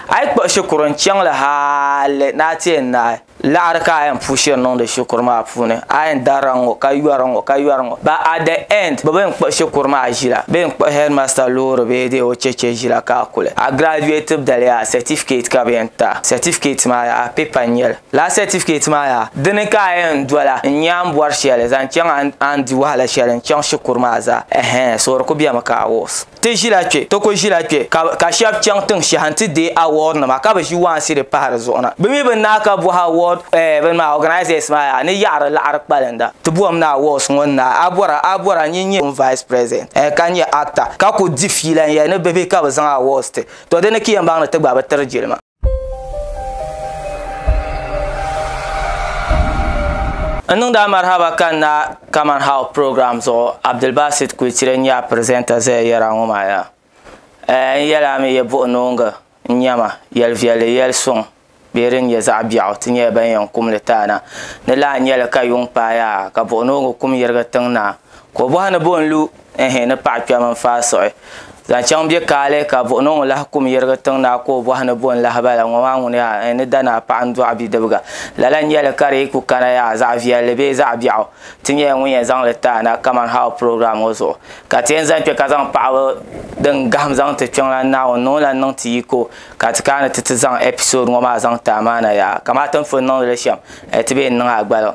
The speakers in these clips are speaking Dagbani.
A yi kpuɣi shikuru n-chaŋ li hali ni a ti yɛn naai laɣiri ka a yɛn puhi shiri niŋdi shikuru maa puuni, a yɛn darila ŋ-ŋɔ ka yɔri ŋ-ŋɔ ka yɔri ŋ-ŋɔ, but at the end bɛ bi yɛn kpuɣi shikuru maa ʒila, bɛ yɛn kpuɣi headmaster loori bee dee o cheche ʒila ka a kuli. A graduate dali yaa certificate ka bɛ yɛn ti a, certificate maa yaa paper n-nyɛ li. Lala certificate maa yaa dini ka a yɛn dola n-nyɛ a ni bɔri shɛli zaŋ chaŋ a ni di wahala shɛli n-chaŋ shikuru maa zaa, ɛhɛɛn soori ku bemi ka a wɔs. Ti ʒila kpe, ti ku ʒila kpe ka ka shɛb chaŋ tiŋ shɛha nti deei award nima ka bi ʒi waansi di pahi di zuɣu na. Bi mi bi naai ka bɔhi award eh bini maa organisers maa yaa ni yaɣiri laɣiri kpalinda ti bɔhim ni awards ŋɔ ni naai a bɔra a bɔra nyin nyɛ pun vice president eh ka nyɛ actor ka ku di fiila n yɛli ni bihi ka bi zaŋ awards ti to di ni ki yɛn baŋ ni ti gba bi tiri jilima. N niŋdi a marhaba ka n na Kaman How program zuɣu Abdulbasit Kuitire n-nyɛ a presenter zaya yɛri a ŋɔ maa yaa. Eh, n yɛli a mi yɛ buɣi noongi n-nyɛma, yɛli viɛlli yɛli suŋ bee din nyɛ zaɣ biɛɣu ti nyɛla ban yɛn kum li taai na. Ni lahi nyɛli ka yuŋ paai a ka buɣi noongi kum yirigi tiŋ naa, ka o bɔhi ni bɔ n-lu. ehe ni paɣa kpɛm n faai suɣi zaŋ chaŋ bɛ kaali ka buɣi niŋ lahi kum yirigi tiŋ naa ka o bɔhi ni bo n lahi bala ŋɔ maa ŋuni yaa eh ni danaa paɣa n dɔɣi bidibga lala n nyɛli ka di yi ku kana yaa zaɣ viɛlli bee zaɣ biɛɣu ti nyɛla ŋun yɛn zaŋli ti a na kaman how program ŋɔ zuɣu ka ti yɛn zaŋ kpɛ ka zaŋ paɣaba din gahim zaŋ ti Kpiɔŋlan Naawuni ni o lan niŋ ti yiko ka ti kana ti ti zaŋ episode ŋɔ maa zaŋ ti a maana yaa kamati n pun niŋdi li shɛm eh ti bee n niŋ a gbaliŋ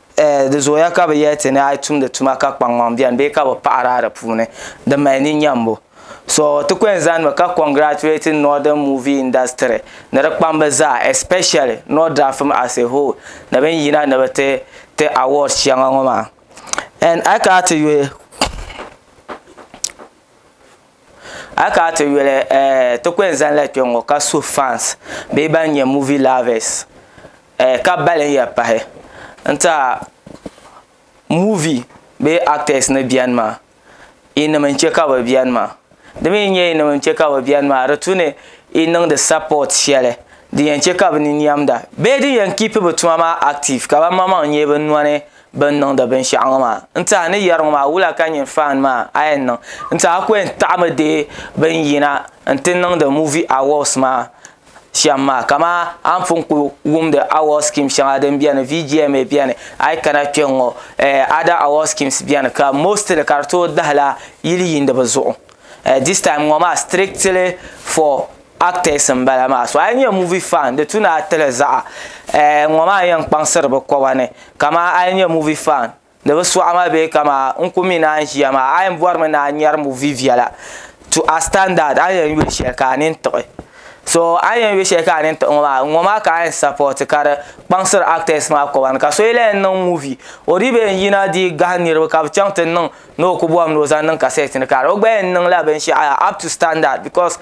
Eh, di zooya ka bi yɛli ti ni a yi tumdi tuma ka kpaŋmaŋ bɛni bee ka bi paɣiri a di puuni, di mali ni nyambu. So, ti ku yɛn zani mi ka congratulate Northern movie industry ni di kpamba zaa especially Nordrafim as a whole ni bɛ ni yina ni bɛ ti ti awards shɛŋa ŋɔ maa. And a yi kana ti yuli. A ka a ti yuli eh, ti kuli zanila kpe ŋɔ ka suhi fans bee ban nyɛ movie lovers eh, ka balin ya pahi n ti a movie bee actors ni beni maa yi nim n chɛ ka bɛ beni maa di mi nyɛ yi nim n chɛ ka bɛ beni maa di tu ni yi niŋdi support shɛli din yɛn chɛ ka bɛ ni niɛmda bee din yɛn keep bɛ tuma maa active ka ban maŋmaŋ nyɛ bɛ nɔni. bin niŋdi binshaɣu ŋɔ maa n tiɛha ni yɛri ŋɔ maa wula ka nyini faan maa a yɛn niŋ n tiɛha ku yɛn taɣimi deei bin yina n ti niŋdi muvi awɔs maa shɛm maa kamani a ni pun ku wumdi awɔs skin shɛŋa din biɛni VGMA biɛni a yi kana kpɛ ŋ ŋɔ ada awɔs skin biɛni ka mostili ka di tooi dahila yili yiindi bi zuɣu distime ŋɔ maa sitirictili fɔ Actors n bala maa so a yi nyɛ movie fan di tu ni a tili zaɣa eh ŋɔ maa n yɛn kpaŋsiri bi koba ni kama a yi nyɛ movie fan di bi sɔɣi ma bee kama n ku mi ni a ni ʒiya maa a yɛn bɔri mi ni a ŋmɛri movie viɛla to a standard a ni yɛn yuli shɛli ka a nini tiɣi so a ni yɛn yuli shɛli ka a nini tiɣi ŋɔ maa ŋɔ maa ka a yɛn support ka di kpaŋsiri actors maa koba ni ka so yi lahi niŋ movie o dii bi yɛn yina dii gahi niriba ka bi chaŋ ti niŋ ni o ku bɔhim ni o zaŋ niŋ kasɛt ni ka o gba yɛn niŋla binshɛɣu up to standard because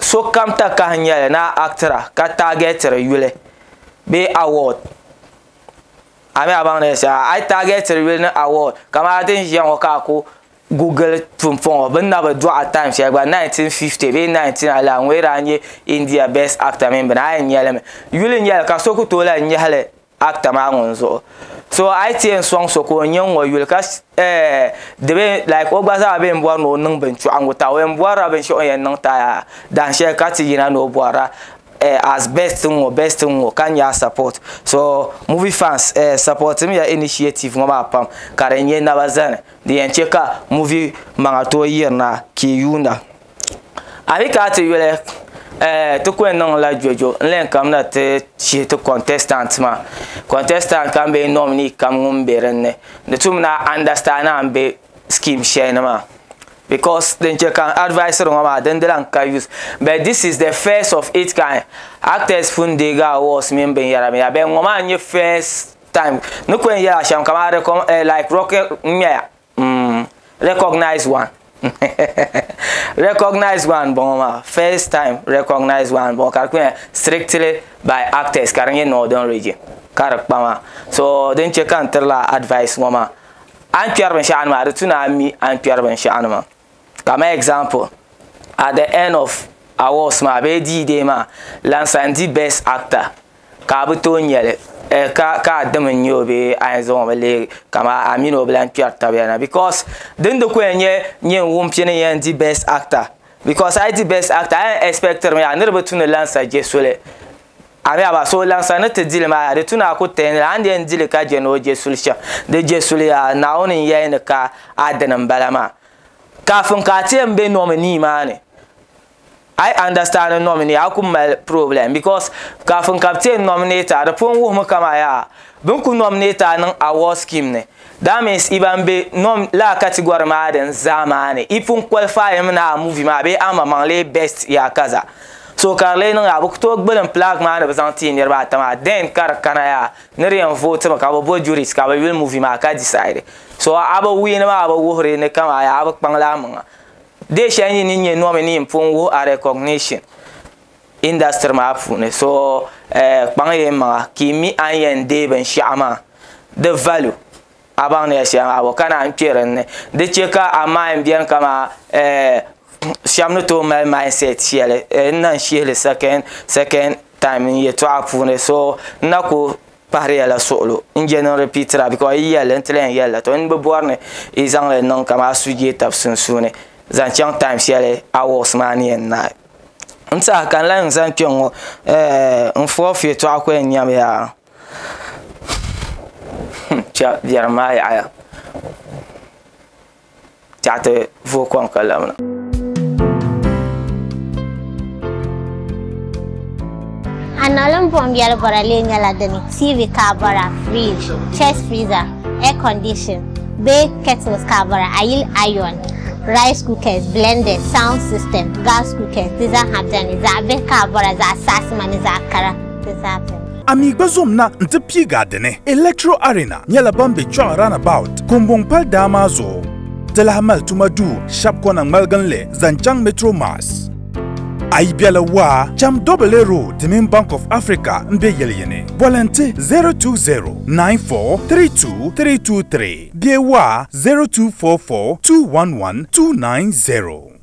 sokam takahi nyɛli ni a actira ka taagɛtiri yuli bee award a mi a baŋ ni yɛli shɛli a yi taagɛtiri yuli ni award kamani din ʒiya ŋɔ ka a ku google pumpɔŋ ŋɔ bini na bi dɔɣi time shɛli gba 1950 bee 19 a lahi ŋɔ yi daa nyɛ India best actor mini bini a yɛn nya li mi yuli nyɛli ka so ku tooi lahi nyɛhi li actor maa ŋun zuɣu so a yi ti yɛn sɔŋ so ka o nyɛ ŋɔ yuli ka eh, di be like o gba zaa be n bɔri ni o niŋ binchɔɣingu ta o yɛn bɔrila binshɛɣu o ni yɛn niŋ taya dahin shɛli ka ti yina ni o bɔrila eh, as best n ŋɔ best n ŋɔ ka nya a support so movie fans eh, supportimiya initiative ŋɔ maa pam ka di nyɛ naba zani di yɛn che ka movie maŋa tooi yirina kii yuunda. a yi kana ti yuli ɛɛ ti kuli niŋla gbejo n len kamina ti shihi ti contestant maa contestant kam bee nominee kam ŋun be din ni di tumina understand a ni be scheme shɛli ni maa because din che ka n advisiri ŋɔ maa din di lan ka use but this is the first of its kind actors pun deegi awards mini binyɛra binyɛra but ŋɔ maa n-nye first time n ni kuli yela shɛm kamani like rocket n-nyɛya. Mm, recognize one. recognize one bɔŋɔ maa first time recognize one bɔŋɔ ka di kuli strictly by actors ka di nyɛ northern region ka di kpa maa so din chɛ ka n tirila advice ŋɔ maa a ni kpɛri binshɛɣu nima di tu ni a mi a ni kpɛri binshɛɣu nima Kamani example, at the end of awards maa bee D-Day maa lan san di best actor ka a bi tooi nyɛli eh, ka ka a dim n-nyɛ o bee a yɛn zaŋ o mi leegi ka ma a mini o bi lan kpɛri tabiya na because din di ku yɛn nyɛ nyin wum pini n yɛn di best actor because a yi di best actor a yɛn expectiri mi yaa niriba tu ni lan sa je soli Amiaba, so laŋsa ni ti dili maa, di tu ni a ku teei ni a ni yɛn dili ka je ni o je suli shɛm. Di je suli a Naawuni n yɛli ni ka a dini n bala maa. Kafin ka a ti yɛn be nominee maa ni, a yi understand nominee a ku mali problem because kafin ka bɛ ti yɛn nominate a di pun wuhimi kaman yaa bɛ ni ku nominate a niŋ award scheme ni. That means i ban be nom laa category maa din zaa maa ni i pun qualify mi ni a movie maa bee amaŋmaŋ lee best yaa kaza so ka di lee niŋ yaa bɛ ku tooi gbilim plaque maa ni bɛ zaŋ ti niriba ata maa then ka di kana yaa ni di yɛn vote mi ka bɛ bo juries ka bɛ yuli movie maa ka decide so a bi win maa bi wuhiri ni kaman yaa a bi kpaŋ li a maŋa dee shɛli yi ni nya nominee n pun wuhi a recognition industry maa puuni so eh, kpaŋ yɛn maŋa ka i mi a ni yɛn deei binshiɛɣu maa di value a baŋ ni yɛn shɛli maa bɔ ka naan kpɛ dinni di chɛ ka a mind biɛni kama eh, shɛm ni tooi mali mindset shɛli eh, n na n shihili second second time n yɛtɔɣa puuni so n na ku pahiri yɛla suɣulo n je niŋ repeatira because yi yɛlli n ti lahi yɛlli to n bi bɔri ni i zaŋli niŋ kama a suhudee tabi sunsuuni zaŋ chaŋ time shɛli a works maa ni yɛn naai N saha ka n lahi zaŋ kpɛ ŋo n foogi yɛltɔɣa ku yɛn nyɛmi yaa biɛrim maa yaɣaya tiɛhi ti vooi kom ka lamina Anɔlim buɣim yɛli bɔra lee nyɛla dini, TV ka a bɔra, fridge, chest freezer, air condition bee kettles ka a bɔra, a yili iron, rice cookers, blenders, sound system, gas cookers di zaaha beni, zaɣ bihi ka a bɔra, zaɣ saasima ni zaɣ kara di zaa beni. A mi gba zom na nti piigi a dini. Electro Arena nyɛla ban be Chɔɣu Runabout Kumbɔŋ pali daa maa zuɣu. Di lahi mali tuma duu shɛb kɔna ŋmaliginli zaŋ chaŋ Metro Mass. A yi bela waa, cham Dobele Road di mini Bank of Africa m-be yili yini. Boli n-ti 020-9432-323 bee waa 0244-211-290.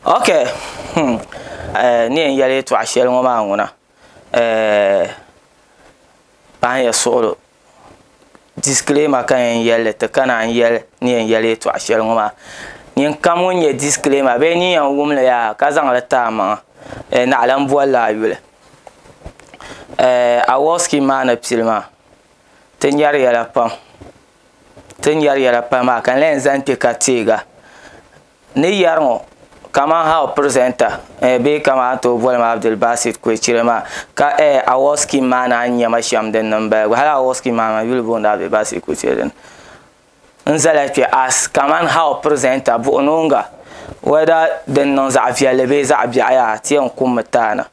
ok hmm eh, ni yɛn yɛli yɛtɔɣa shɛli ŋɔ maa ŋuna eh, pahin ya suɣilo disclaimer ka yɛn yɛli ti kana n yɛli ni yɛn yɛli yɛtɔɣa shɛli ŋɔ maa nin kam ŋun nyɛ disclaimer bee ni yɛn wumli yaa ka zaŋli ti a maŋa eh, naɣila n bolila a yuli eh, awɔskin maa ni pili maa ti nyɛri yɛla pam ti nyɛri yɛla pam maa ka n lahi zaŋ kpe ka teega Ni yɛri ŋɔ, kaman how presenter eh bee kaman a tooi boli ma Abdul Basit Kwecire maa, ka eh award scheme maa naan nya ma shɛm din niŋ m-bala gba. Hali award scheme maa man yuli booni Abdul Basit Kwecire dini. N zala kpe as kaman how presenter buɣinooŋga whether din niŋ zaɣ viɛlli bee zaɣ biɛɣu yaa ti yɛn kummi taana.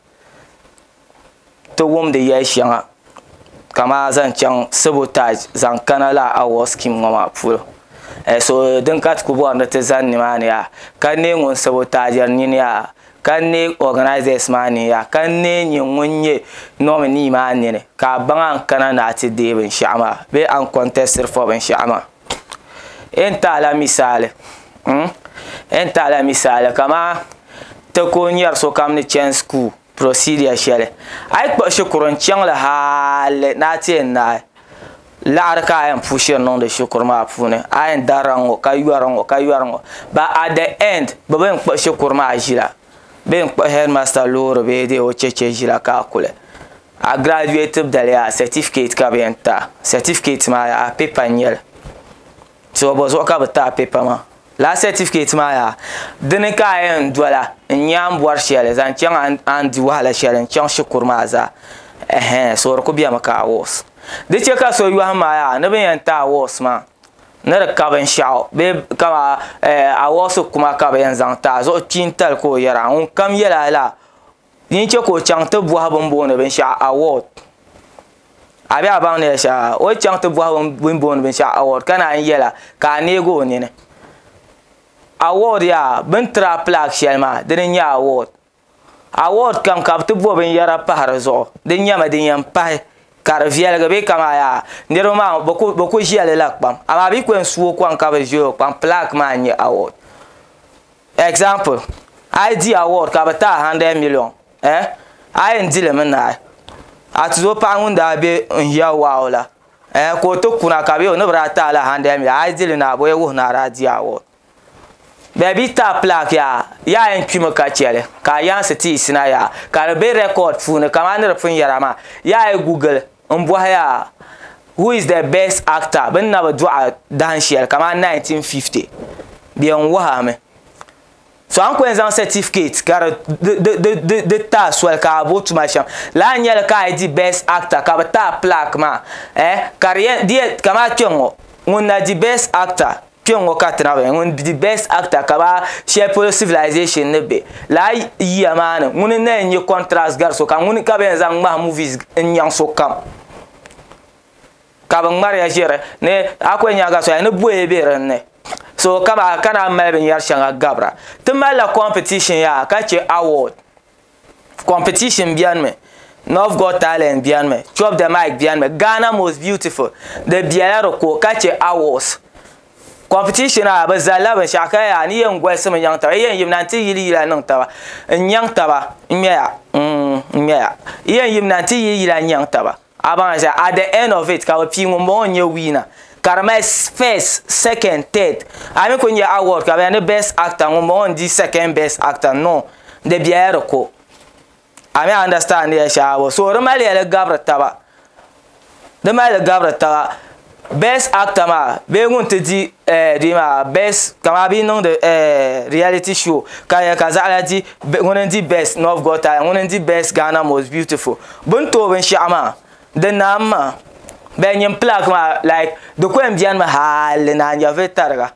ti wumdi yɛli shɛŋa kamani zaŋ chaŋ sabotaaz zaŋ kana lala awɔɔsi skin ŋɔ maa polo so din ka ti ku bɔri ni ti zani nimaani yaa ka n neei ŋun sabotaaziri nini yaa ka n neei ɔganaazɛs maa nini yaa ka n neei nyɛ ŋun nyɛ nɔminii maa nini ka a baŋ a ni kana ni a ti deei binshɛɣu maa bee a ni kɔntɛsitiri fɔ binshɛɣu maa a ni ti a la misaali a ni ti a la misaali kamani ti ku nyɛri sokam ni chani school procedure shɛli a yi kpuɣi shikuru n chaŋ li hali ni a ti yɛn naai laɣiri ka a yɛn pushiri niŋdi shikuru maa puuni a yɛn darila ŋ-ŋɔ ka yɔri ŋ-ŋɔ ka yɔri ŋ-ŋɔ but at the end bɛ bi yɛn kpuɣi shikuru maa ʒila bɛ yɛn kpuɣi headmaster loori bee dee o cheche ʒila ka a kuli a graduate daliya certificate ka bɛ yɛn ti a certificate maa yaha paper n-nyɛ li Tibɔbɔ zuɣu ka bɛ taai pɛpa maa. Lala sɛtifiketi maa yaa, di ni ka a yɛn dola n-nyɛ a ni bɔri shɛli zaŋ chaŋ a ni di wahala shɛli n-chaŋ shikuru maa zaa. Ɛhɛn, so di ku bemi ka awards. Di chɛ ka so yɔhim a yaa ni bɛ ni yɛn ti awards maa ni di ka binshɛɣu bee kaman awards kuma ka bɛ yɛn zaŋ ti a zuɣu kpiintali ka o yɛra ŋunkam yɛla lala Din chɛ ka o chaŋ ti bɔhi bini booni binshɛɣu award. A bɛ a baŋ ni yɛli shɛli la, o ni chaŋ ti bɔhi bini booni binshɛɣu award ka naan yɛla ka a neeg o nini. Award yaa bini tiri a plaque shɛli maa dini n-nyɛ award. Award kam ka bɛ ti bo binyɛra pahi di zuɣu din nyɛma din yɛn pahi ka di viɛligi bee ka maa yaa niriba maa bɛ ku bɛ ku ʒiɛli la kpam amaa bɛ yi ku yɛn su o kɔŋ ka bi ʒiɛ o kpaŋ plaque maa n-nyɛ award. Example, A yi di award ka bɛ ti a 100 million, eh, a yɛn di li mi naai? A ti zo paɣa ŋun daa be n hiya wow la, eh, ka o ti kuna ka bɛ o ni bi daa ti a la 100 million, a yi di li naai bɔ ya wuhi ni a daa di award? Bɛ bi ti a plaque yaa, yaa yɛn kpi mi ka chɛ li ka a yaansi ti yi sina yaa, ka di be record puuni kaman ni di pun yɛra maa, yaa yi Google. N bɔhi ya, who is the best actor? Bɛ ni na bi dɔɣi dahin shɛli kamani 1950 bɛ yɛn wuhi mi. So a ni ku yɛn zaŋ certificate ka di di taai soli ka a bo tuma shɛm lala n-nyɛ li ka a yi di best actor ka bɛ taai plaque maa eh ka di yɛn di yɛn kamani kpɛŋɔ ŋun na di best actor Kpɛŋŋo ka ti naɣi ŋun di Best Actor ka ba shɛli polo Civilization ni be laa yiya maa ni ŋuni n-na yɛn nyɛ contrast gari so kam ŋuni ka bɛ yɛn zaŋ ŋmahi movies n-nyaŋ so kam ka bɛ ŋmariya ʒiri ni Akua Enyagha soya ni boya be din ni so ka naan mali binyɛri shɛŋa gabira ti malila competition yaha ka che award. competition biɛni mi North Got Talent biɛni mi Chop the Mic biɛni mi Ghana Most Beautiful di biɛla di ko ka chɛ awards competition a bi zalila binshɛɣu ka yaa ni yɛn golisimi nyaŋ taba yi yɛn yimina n ti yili yila niŋ taba n nyaŋ taba n ŋmɛya n ŋmɛya yi yɛn yimina n ti yili yila nyaŋ taba A baŋ shɛli at the end of it ka bɛ pii ŋun bɔŋɔ n-nyɛ wiina ka di mali first, second, third. A mi kuli nya award ka bɛ yaa ni best actor ŋun bɔŋɔ n-di second best actor no di bela di ko. A mi understand ya shɛli a bɔ so di mali ya di gabiri taba di mali di gabiri taba best actor maa bee ŋun ti di eh, di maa best kama bi niŋdi eh, reality show ka yɛ ka zaɣala di be- ŋuni n di best north got talent ŋuni n di best ghana most beautiful bin tooi binshaɣu maa di naam maa bɛ nyin plaque maa like di ko n biɛni mi hali ni a nya vi tariga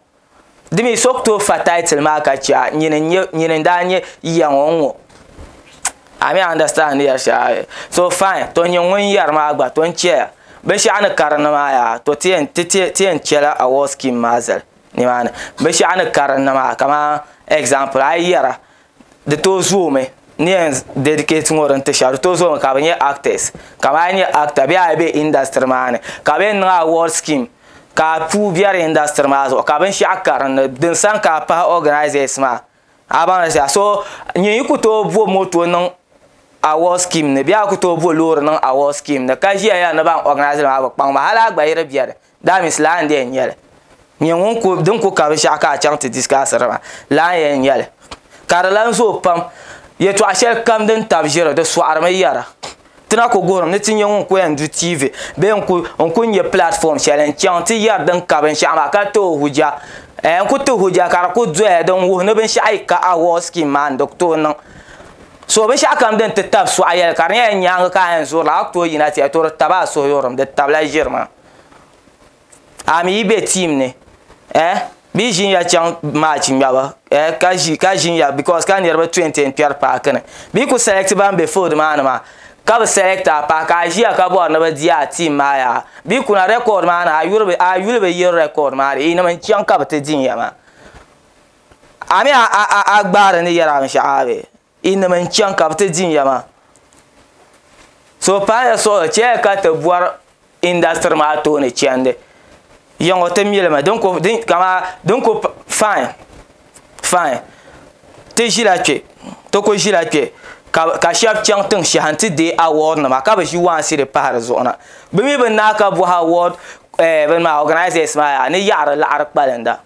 Di mi so ku tooi fa title maa ka chɛ a nyini n nyɛ nyini n daa nyɛ yiya ŋɔ n ŋɔ. A mi understand ya shɛm? So fine, to nyini ŋun yɛri maa gba to n chɛ ya. Binshɛɣu ni karinli maa yaa to ti yɛn ti ti ti yɛn chɛla award scheme maa zali nimaani. Binshɛɣu ni karinli maa kamani example a yi yɛra di tooi zoomi n yɛn dedicate ŋɔ din ti shɛba di tooi zoomi ka bi nyɛ actors ka maa nyɛ actor bee a yi bɛ industry maa ni ka bi yɛn niŋ award scheme ka a puu bɛ di industry maa zuɣu ka binshaɣu karinli din sani ka a pahi organisers maa a baŋ li zaa so nyini yi ku tooi bo motor niŋ award scheme ni bee a ku tooi bo loori niŋ award scheme ni ka ʒiya yɛli ni ban organise li maa bi kpaŋ ma hali a gba yi di bɛ ni. That means laa n dee nyɛli nyɛ ŋun ku din ku ka binshaɣu ka a chaŋ ti discussiri maa laa n yɛn nyɛli ka di lan zooi pam yɛtɔɣa shɛli kam din tabi ʒiri di sɔɣirimi yɛra ti na ku guhirimi ni ti nyɛ ŋun ku yɛn du TV bee n ku n ku nyɛ platform shɛli n chaŋ ti yɛri din ka binshaɣu maa ka tooi huja n ku ti huja ka di ku doya din wuhi ni binshaɣu yi ka award scheme maa n di ku tooi niŋ so binshaɣu kam din ti tabi sɔɣi yɛli ka di nyɛla nyaangi ka a yɛn zurili a ku tooi yina ti yɛli to di tabi a suhuyurim di tabila ʒiri maa a mi yi be team ni eh bɛ yi ʒinya chaŋ match ŋmɛbu eh ka ʒi ka ʒinya because ka niriba 20 n kpɛri paaki ni bɛ yi kuli select ban be field maa ni maa ka bi select a paaki ka a ʒiya ka bɔri ni bɛ di a team maa yaha bɛ yi kuna record maa ni a yuli bi a yuli bi yili record maa di yinim n chaŋ ka bi ti din ya maa a mi a a a gbaari ni yɛri a binshɛɣu maa bee. Inim n chaŋ ka bɛ ti din ya maa. So paaya suɣulo chɛya ka ti bɔri industry maa tooni chɛndi. Yiŋɔ ti mi li mi din ku din kama din ku fine fine ti ʒila kpe ti ku ʒila kpe ka ka shɛba chaŋ tiŋ shɛhi nti deei award nima ka bi ʒi waansi di pahi di zuɣu na. Bɛ mi bi naai ka bɔhi award ɛɛh bini maa organisers maa yaa ni yaɣiri laɣiri kpalinda.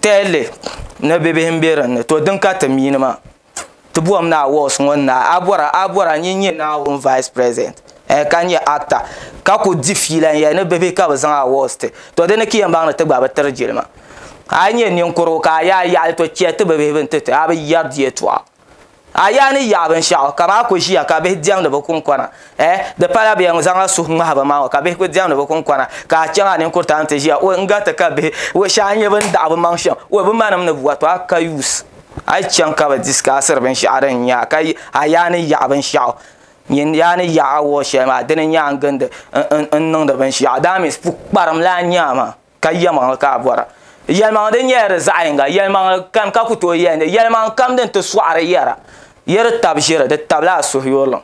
tɛli ni bɛ bihi m-be din ni to din ka ti mi ni maa ti bɔhim ni awards ŋɔ ni na a bɔra a bɔra n yi nyɛ Naawuni vice president ɛɛh ka nyɛ actor ka kuli di fiila n yɛli ni bɛ bihi ka bɛ zaŋ awards ti to di ni ka yɛn baŋ ni ti gba bi tiri jilima a yi nyɛ ninkurugu ka a yaai yaɣili to chɛ ti bɛ bihi bini ti ti a bi yɛri di yɛltɔɣa. A yaa ni yaɣi binshɛɣu ka maa ku ʒiya ka bihi diɛmdi bi kunkɔna. Eh, di pala bɛ yɛn zaŋla suhu ŋmahi ba maa ŋɔ ka bihi ku diɛmdi bi kunkɔna ka a chaŋ a ninkuritaa ni ti ʒiya. Woi, n gariti ka bihi woi shɛhi n-nyɛ bɛ ni daɣi bɛ maŋ shɛm. Woi, bɛ manim ni bi wa tɔ a ka yuus. A yi chaŋ ka bɛ diskaasiri binshɛɣu din nyɛ a ka a yaa ni yaɣi binshɛɣu, nyin yaa ni yaɣi awɔɔ shɛli maa, dini n-nyɛ a ni gindi n niŋdi binshɛɣu. That means pukparim la n-nyɛ a maa. ka yɛlimaŋli ka a bɔra yɛlimaŋli din nyɛla di zaɣ yinga yɛlimaŋli kani ka ku tooi yɛli ni yɛlimaŋli kam din ti sɔɣiri yɛra yi di tab ʒiri di tabila a suhuyurlim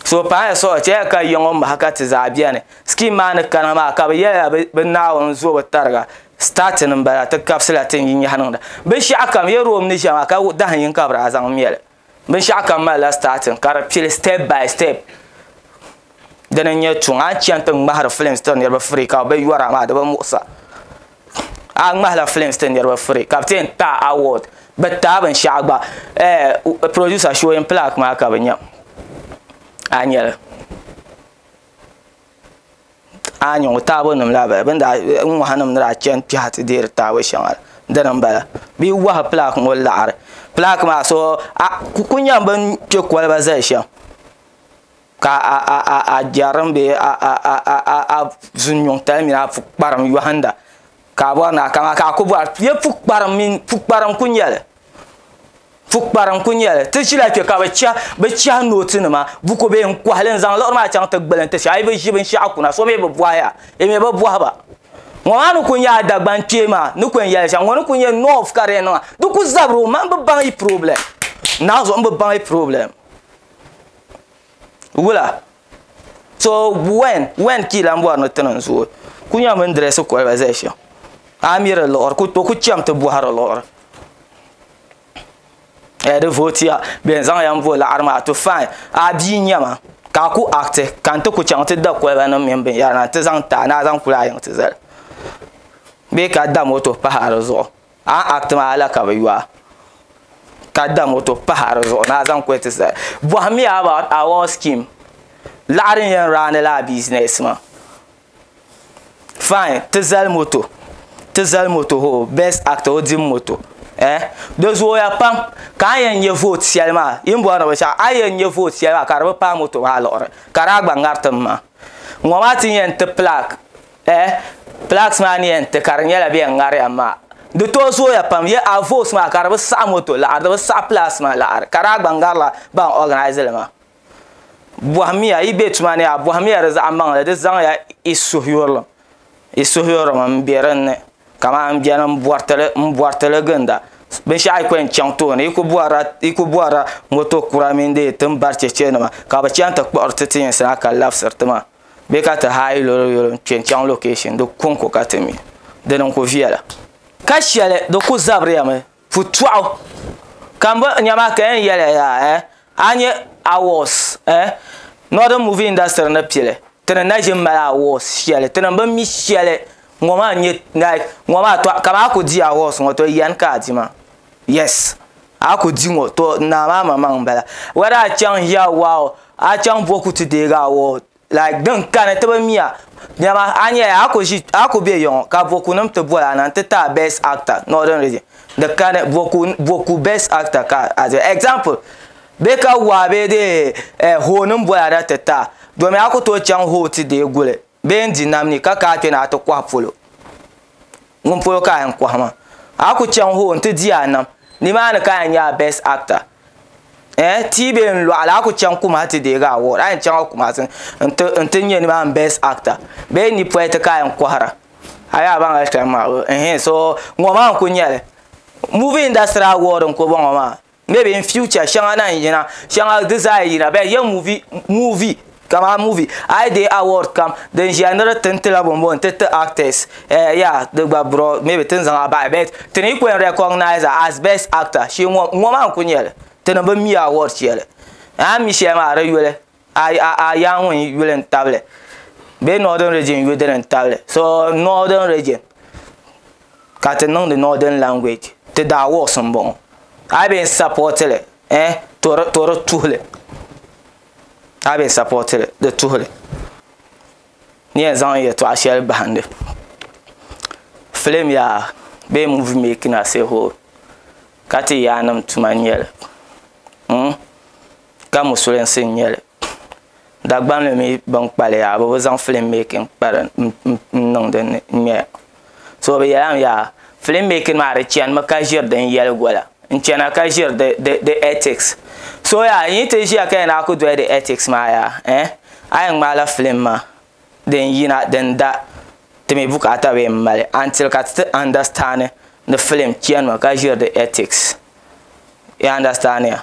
suhupaya suhi chɛliya ka yiya ŋɔ mahi ka ti zaa bɛni sikiim maa ni kana maa ka bɛ yɛliya bɛ Naawuni zo bi tariga sitaatin m-bala ti kabisila ti ni yi nyahi niŋda binshɛɣukam Yɛrim ni ʒiya maa ka dahin yini ka bɛ daa zaŋ mɛ li binshaɣu kam malila starting ka di pili step by step dini n nyɛ tuŋ a ni chɛni ti ŋmahari films tiri niraba firi ka bi yɔra maa di bi muɣusa a ŋmahila films tiri niraba firi ka bi ti yɛn taai award bi taai binshaɣu gba producer showing plaque maa ka bi nyɛ a ni nyɛli a yi nyɛ ŋɔ taabo nim laa n bala bin daa n ŋɔha nim ni daa chɛni kpɛha ti deeri taabo shɛŋa la dini n bala bɛ yi wahu pilaak ŋɔ laɣari pilaak maa so ku ku nyɛm bin kpɛ koliba zali shɛm ka a jɛrim bee a zunyuŋ tali mini a pukparilim yohinda ka a bɔri naa ka a ku bɔra yɛ pukparilim mini pukparilim n ku nyɛli pukpara n ku nyɛli ti ʒila kpɛ ka bi chɛ bi chɛhi nooti nima buku bihi n kohali n zaŋ liɣiri maa chaŋ ti gbuli n ti shɛ a yi bi ʒi binshaɣu kuna so mii bi bohaya di mii bi bohaba ŋɔ maa ni ku nyɛ a Dagban kpee maa ni ku yɛn yɛli shɛm ŋɔ ni ku nyɛ noos ka di yɛn niŋa di ku zabiri o maŋ n bi baŋ yi pirɔblɛm naanzuhi n bi baŋ yi pirɔblɛm wula so when when kii lan bɔri ni ti niŋ zooi ku nyɛ mini dirɛsi koliba zali shɛm a mi di liɣiri ku o ku chɛm ti bɔhiri liɣiri eh di vootiya bɛn zaŋ ya m-bo liɣiri maa to fine a bia n-nyɛ ma ka a ku akiti ka n ti ku chaŋ ti da kolibanim mini binyɛra na nti zaŋ ti a ni a zaŋ kulahi yiŋ ti zali bee ka da moto pahi a di zuɣu A act maa la ka bɛ yo a ka da moto pahi a di zuɣu ni a zaŋ kuli ti sa. Bɔhim ya about award scheme, laɣiri n-yɛn raani la a business maa. Fine, ti zali moto, ti zali moto hoo, best actor o dimi moto eh, di zooya pam ka a yɛn nya vote shɛli maa, yi ni bɔri ni binshɛɣu, a yɛn nya vote shɛli maa ka di bi paai moto maa liɣiri ka di a gba ŋari tim maa. Ŋɔ maa ti yɛn ti plaque. Eh plaques maa ni yɛn ti ka di nyɛla bɛ yɛn ŋari ya maa di tooi zooya pam yɛ a votes maa ka di bi saɣi moto laɣiri di bi saɣi plaques maa laɣiri ka daa gba ŋari la ban organise li maa bɔhimiya yi bɛ tuma ni yaa bɔhimiya di zaɣi maŋli di zaŋ ya i suhuyurili i suhuyurili n bɛ din ni ka maa bɛni n bɔritili n bɔritili ginda binshɛɣu yi ku yɛn chaŋ tooni yi ku bɔrila yi ku bɔrila moto kura mini din yi tin bari chɛchɛ nima ka bi chɛn ti kpuɣiri ti ti yinsi na ka labisiri ti maa. bee ka ti haayi lolo yolo n-kpe n-chaŋ location di kɔŋko ka ti mi di ni ku viɛla. Ka shɛli di ku zabiriya mi putɔɣu ka m boli nya maa ka yɛn yɛliya yaa eh a nya awards eh Northern movie industry ni pili ti ni na ʒi mali awards shɛli ti ni bi mi shɛli ŋɔ maa n-nyɛ like ŋɔ maa tɔ kaman a ku di awards ŋɔ tɔ yani ka a di maa? Yes a ku di ŋɔ to naa maa ma maŋ m-bala whether a chaŋ hiya waa o a chaŋ bo ku ti deegi a waa o like din kani ti bi mia dama a nya a ku ʒi a ku be yɔŋɔ ka bo ku nim ti boli a na n-ti ti a best actor northern region di kani bo ku bo ku best actor ka a zaŋ example be ka waa bee dee eh hoo nim boli a na ti ti a domi a ku tooi chaŋ hoo ti deei guli bee n-di nam ni ka ka a kpe ni a ti kɔhi polo. ŋun polo ka a yɛn kɔhi ma a ku chaŋ hoo nti di a nam nimaani ka a yɛn nyaai best actor eh tia bee n lɔɣili a ku chaŋ Kumasi ti deegi award a yɛn chaŋ Kumasi nti nti nyɛ nimaani best actor bee n ni pɔi ti ka a yɛn kɔhira a yi a baŋ hali kpɛm maa bi ɛhɛn so ŋɔ maa n ku nyɛli movie industry award n ku bɔŋɔ maa Maybe in future shɛŋa na n yina shɛŋa di zaa yina bɛ yɛ movie movie kama movie ai dee award kam din ʒiya ni di tin tila bɔnbɔn n ti ti actors eh yeah di gba bro maybe tin zaŋ a bahi but ti ni kuli recognize a as best actor shee ŋɔ ŋɔ maa n kuli nyɛli ti ni bi mi award shɛli a ni mi shɛli maa di yuli. Ayaŋun yuli n tabili bee northern region yuli dini n tabili so northern region ka ti niŋdi northern language ti daa wɔɣis n bɔŋɔ a yi bɛ yɛn sapɔti li ɛɛh to di to di tuhili a yi bɛ yɛn sapɔti li di tuhili ni yɛn zaŋ yɛltɔɣa shɛli bahindi film yaa bee movie making as a whole ka ti yaannim tuma n nyɛli hmm ka musulinsi n nyɛli Dagban ni mi bin kpalim yaa bi bi zaŋ filim meekin n niŋ din ni n ŋmɛya so bi yɛlli mi yaa filim meekin maa di chani mi ka ʒiri din yɛli gola n chana ka ʒiri di etiks so yaa n yi ti ʒiya ka yɛn daa ku doli di etiks maa yaa a yɛn ŋmaai la filim maa. din yina din da ti mi bukaata bee m-mali until ka ti ti understand ni film chani mi ka ʒiri di ethics yi understand ya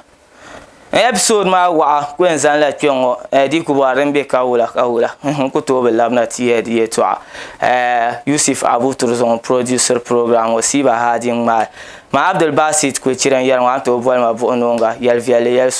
episode maa waɣa n ku yɛn zaŋ la kpɛ ŋɔ eh, di yi ku bɔri din be ka wula ka wula n ku tooi bi labina ti yɛli di yɛltɔɣa eh, Yusuf Abu Turzɔŋ produced program ŋɔ Siiba Haadi ŋmaai ma Abdul Basit Kulichira n-yɛli ŋɔ a ni tooi boli ma buɣinooŋa yɛli viɛlli yɛli suŋ.